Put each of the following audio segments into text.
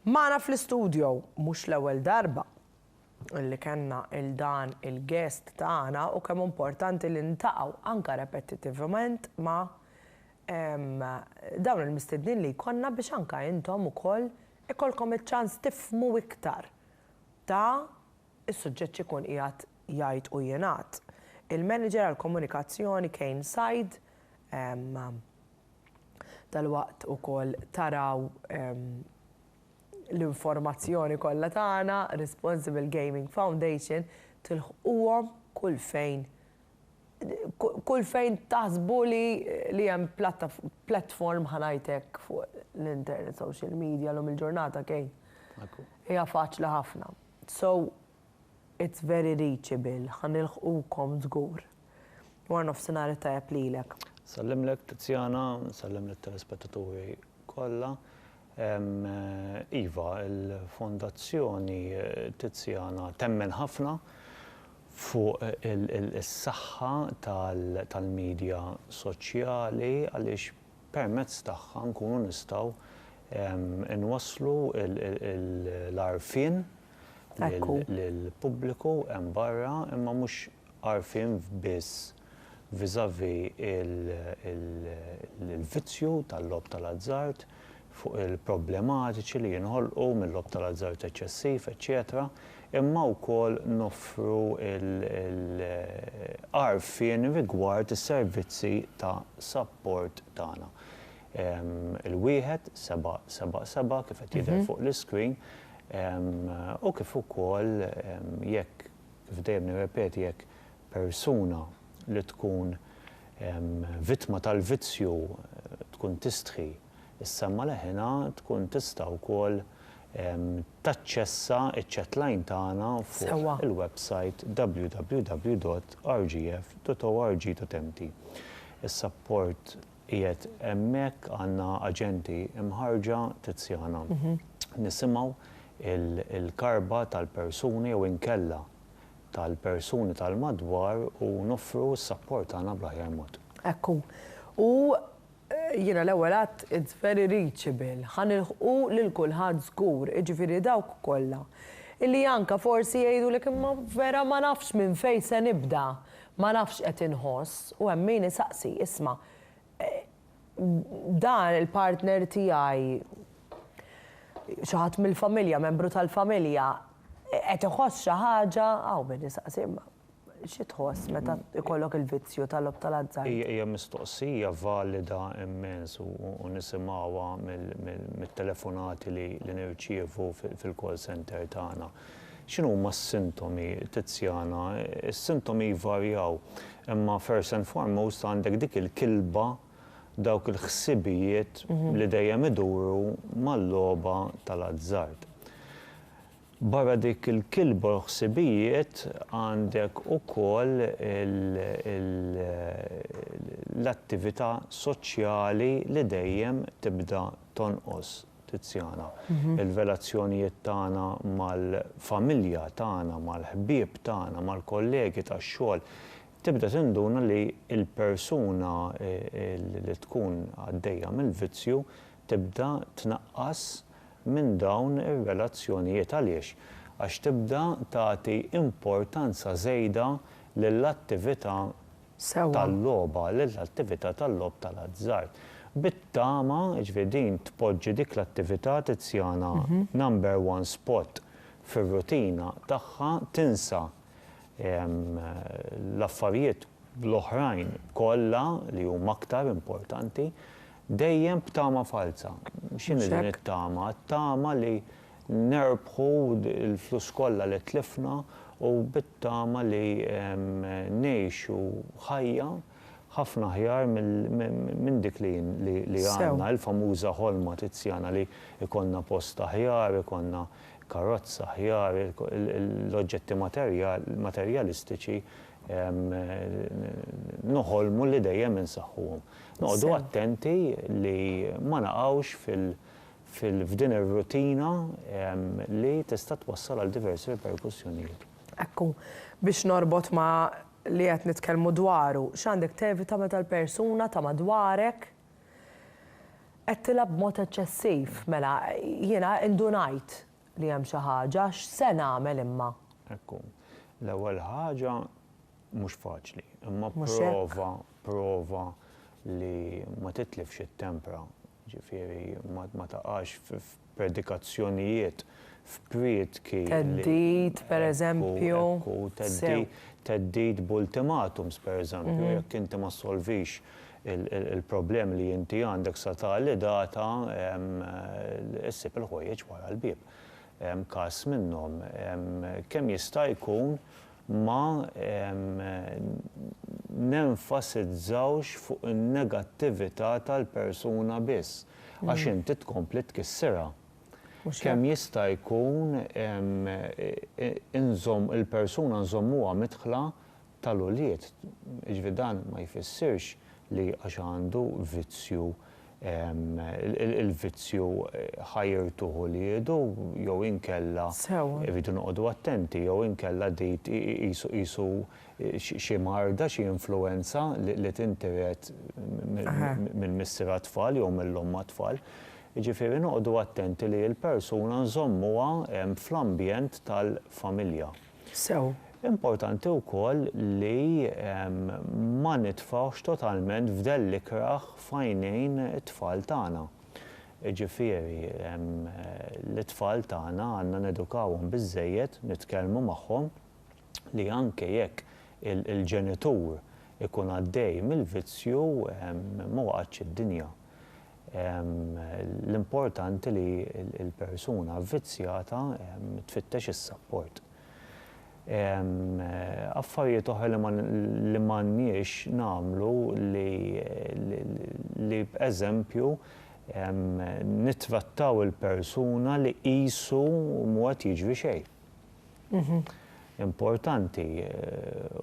Magħna fl-istudio, mhux l-ewwel darba li kellna 'l dan il-guest tagħna u kemm hu importanti li ntaqgħu anke repetitivement ma' dawn il-mistednin li jkollna biex anke intom ukoll ikollkom iċ-ċans tifhmu iktar ta' is-suġġett x'ikun qiegħed jgħid u jingħad il-Manager għall-Komunikazzjoni Kane Said. dalwaqt ukoll taraw l-informazzjoni kollha tagħna, Responsible Gaming Foundation, tilħquhom kull fejn kull fejn taħsbu li hemm platform ħa ngħid hekk fuq l-internet, social media llum il-ġurnata Kane. Hija faċli ħafna. So It's very reachable, ħa nilħqukom żgur. Wara nofsinhar it-tajjeb lilek. Nsallimlek Tiziana, nsellem lit-telespettaturi kollha. Iva, il-Fondazzjoni Tiziana temmen ħafna fuq is-saħħa tal-midja soċjali għaliex permezz tagħha nkunu nistgħu nwasslu l-għarfien lill-pubbliku hemm barra imma mhux għarfien biss vis-à-vis il-vizzju tal-logħob tal-azzard, fuq il-problematiċi li jinħolqu mil-logħob tal-azzard eċċessiv, eċċetera imma wkoll noffru l-għarfien rigward is-servizzi ta' sapport tagħna. Il-1777 kif qed jidher fuq l-iscreen u kif ukoll jekk, kif dejjem nirrepeti, jekk persuna li tkun vittma tal-vizzju tkun tistħi s-semma leħinha tkun tista' wkoll taċċessa ċ-chatline tagħna fuq il-websajt www.rgf.org.mt. Is-sapport Qiegħed hemmhekk għandna aġenti mħarrġa Tiziana. Nisimgħu l-karba tal-persuni jew inkella tal-persuni tal-madwar u noffru s-sapport tagħna bl-aħjar mod. Hekk hu. U jiena l-ewwel għidt it's very reachable, ħa nilħqu lil kulħadd żgur, jiġifieri dawk kollha li anke forsi jgħidulek imma vera ma nafx minn fejn se nibda, Ma nafx x'qed inħoss u hemm min isaqsi, isma', dan il-partner tiegħi, xi ħadd mill-familja, membru tal-familja, qed iħoss xi ħaġa, hawn min isaqsi, imma xi tħoss meta jkollok il-vizzju tal-logħob tal-azzard? Hija mistoqsija valida immens u nisimgħuha mit-telefonati li nirċievu fil-call center tagħna. X'inhuma s-sintomi, Tiziana? Is-sintomi jvarjaw, imma first and foremost għandek dik il-kilba, dawk il-ħsibijiet li dejjem iduru mal-logħba tal-azzard. Barra dik il-kilba u l-ħsibijiet għandek ukoll l-attività soċjali li dejjem tibda tonqos. Tiziana, Il-velazzjonijiet tagħna mal-familja tagħna, mal-ħbieb tagħna, mal-kollegi tax-xogħol, tibda tinduna li l-persuna li tkun għaddejja mill-vizzju tibda tnaqqas minn dawn ir-relazzjonijiet. Għaliex? Għax tibda tagħti importanza żejda lill-attività tal-logħba lill-attività tal-logħob tal-azzard bit-tama, jiġifieri din tpoġġi dik l-attività Tiziana number one spot fir-rutina tagħha, tinsa l-affarijiet l-oħrajn kollha li huma aktar importanti, dejjem b'tama falza. X'inhi din it-tama? T-tama li nerbħu l-flus kollha li tlifna u bit-tama li ngħixu ħajja ħafna aħjar minn dik li għandna, il-famuża ħolma Tiziana li jkollna post aħjar, ikollna karozza aħjar, l-oġġetti materjalistiċi noħolmu li dejjem insaħħuhom. Noqogħdu attenti li ma naqgħux f'din ir-rutina li tista' twassal għal diversi riperkussjonijiet. Hekk hu. Biex norbot ma' li qed nitkellmu dwaru, x'għandek tevita meta l-persuna ta' madwarek qed tilgħab b'mod eċċessiv? Mela, jiena indunajt li hemm xi ħaġa, x'se nagħmel imma? Hekk hu. L-ewwel ħaġa, Mhux faċli, imma prova, prova li ma titlifx it-tempra, ġifieri ma taqax f'predikazzjonijiet, f'priedki. Theddid, pereżempju. Theddid b'ultimatums, pereżempju, jekk inti ma ssolvix il-problemi li inti għandek sa tali data, issib il-ħwejjeġ wara l-bieb. Każ minnhom, kemm jista' jkun ma nenfasizzawx fuq in-negattività tal-persuna biss, għax inti tkompli tkissirha. Kemm jista' jkun inżomm il-persuna nżommuha midħla tal-ulied, jiġifieri dan ma jfissirx li għax għandu vizzju il-vizzju ħajrtu ħuliedu jew inkella rridu noqogħdu attenti jew inkella di qisu xi marda, xi influwenza li tintiret minn missier għat-tfal jew mill-omm għat-tfal. Jiġifieri noqogħdu attenti li l-persuna nżommuha fl-ambjent tal-familja. sew. Importanti wkoll li ma nitfgħux totalment fdell l-ikrah f'għajnejn it-tfal tagħna. Jiġifieri, lit-tfal tagħna għandna nedukawhom biżżejjed, nitkellmu magħhom li anke jekk il-ġenitur ikun għaddej mill-vizzju, ma waqgħetx id-dinja. L-importanti li l-persuna vvizzjata tfittex is-sapport. Affarijiet oħra li m'għandniex nagħmlu li b'eżempju nittrattaw il-persuna li qisu m'hu qed jiġri xejn. importanti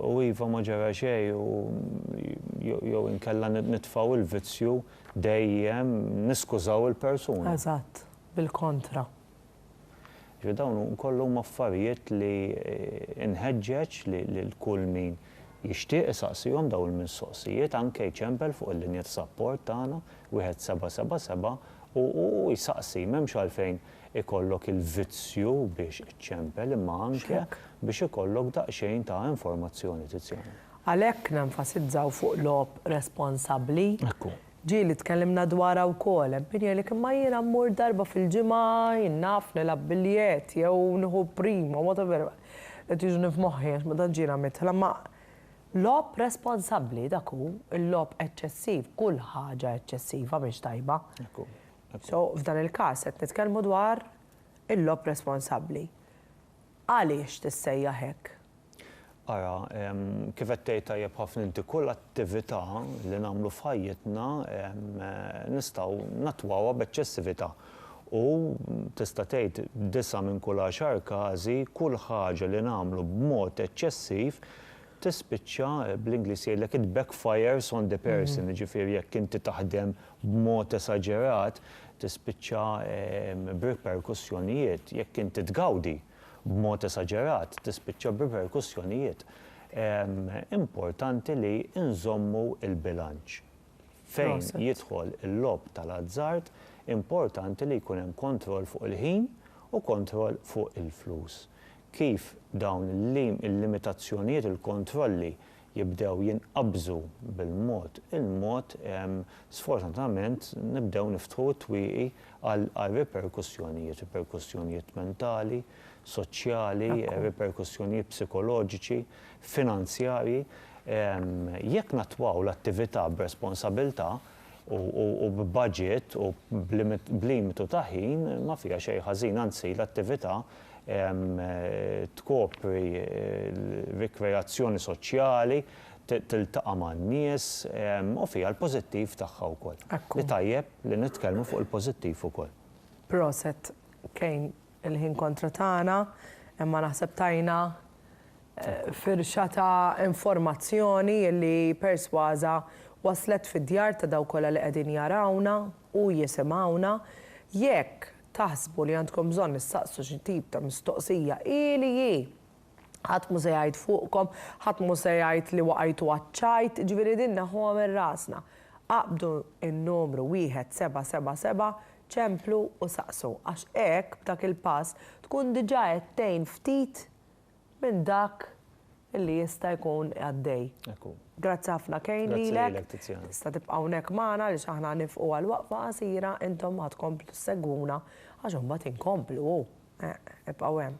u iva ma ġara xejn u jew inkella nitfgħu l-vizzju dejjem niskużaw il-persuna. Eżatt, bil-kontra. Jiġifieri dawn kollha huma affarijiet li nħeġġeġ lil kull min jixtieq isaqsihom dawn il-mistoqsijiet anke jċempel fuq il-linja ta' sapport tagħna 1777 u jsaqsi, m'hemmx għalfejn ikollok il-vizzju biex iċċempel imma anke biex ikollok daqsxejn ta' informazzjoni tizzjana. Għalhekk nenfasizzaw fuq logħob responsabbli. Ekku. Ġieli tkellimna dwarha wkoll, hemm min jgħidlek imma jiena mmur darba fil-ġimgħa, jien naf nilgħab biljett jew nieħu primo, whatever, qed jiġini f'moħħi għax ma tantx jiena midħla imma logħob responsabbli dak hu, il-logħob eċċessiv, kull ħaġa eċċessiva mhix tajba. Ekku. So, f'dan il-każ qed nitkellmu dwar il-logħob responsabbli. Għaliex tissejjaħ hekk? Ara, kif qed tgħid tajjeb ħafna inti, kull attività li nagħmlu f'ħajjitna nistgħu nattwawha b'eċċessività. U tista' tgħid b'disa' minn kull għaxar każi, kull ħaġa li nagħmlu b'mod eċċessiv tispiċċa, bl-Ingliż jgħidlek it backfires on the person, jiġifieri jekk inti taħdem b'mod esaġerat, tispiċċa b'riperkussjonijiet. Jekk inti tgawdi b'mod esaġerat, tispiċċa b'riperkussjonijiet. Importanti li nżommu l-bilanċ. Fejn jidħol il-logħob tal-azzard, importanti li jkun hemm kontroll fuq il-ħin u kontroll fuq il-flus. Kif dawn il-limitazzjonijiet, il-kontrolli jibdew jinqabżu bil-mod il-mod, sfortunatament nibdew niftħu t-twieqi għal riperkussjonijiet, riperkussjonijiet mentali, soċjali, riperkussjonijiet psikoloġiċi, finanzjarji. Jekk nattwaw l-attività b'responsabilità, u b'budget u b'limitu ta' ħin ma fiha xejn ħażin, anzi l-attività tkopri rikreazzjoni soċjali, tiltaqa' man-nies u fiha l-pożittiv tagħha wkoll. Hi tajjeb li nitkellmu fuq il-pożittiv ukoll. Proset Kane. il-ħin kontra tagħna, imma naħseb tajna firxa ta' informazzjoni li persważa waslet fid-djar ta' dawk kollha li qegħdin jarawna u jisimgħuna. Jekk taħsbu li għandkom bżonn issaqsu xi tip ta' mistoqsija, hi li hi, ħadd mhu se jgħid fuqkom, ħadd mhu se jgħid li waqajtu għaċ-ċajt, ġifieri din neħħuha minn rasna. Aqbdu n-numru wieħed seba' seba' seba' Ċemplu u saqsu, għax hekk, b'dak il-pass, tkun diġà qed tgħin ftit minn dak li jista' jkun għaddej. Hekk hu. Grazzi ħafna Kane lilek. Grazzi lilek, Tiziana. Tista' tibqa' hawnhekk magħna għaliex aħna nifqu għal waqfa qasira, intom ħa tkomplu ssegwuna għax imbagħad inkomplu hu. Eħ, ibqgħu hemm.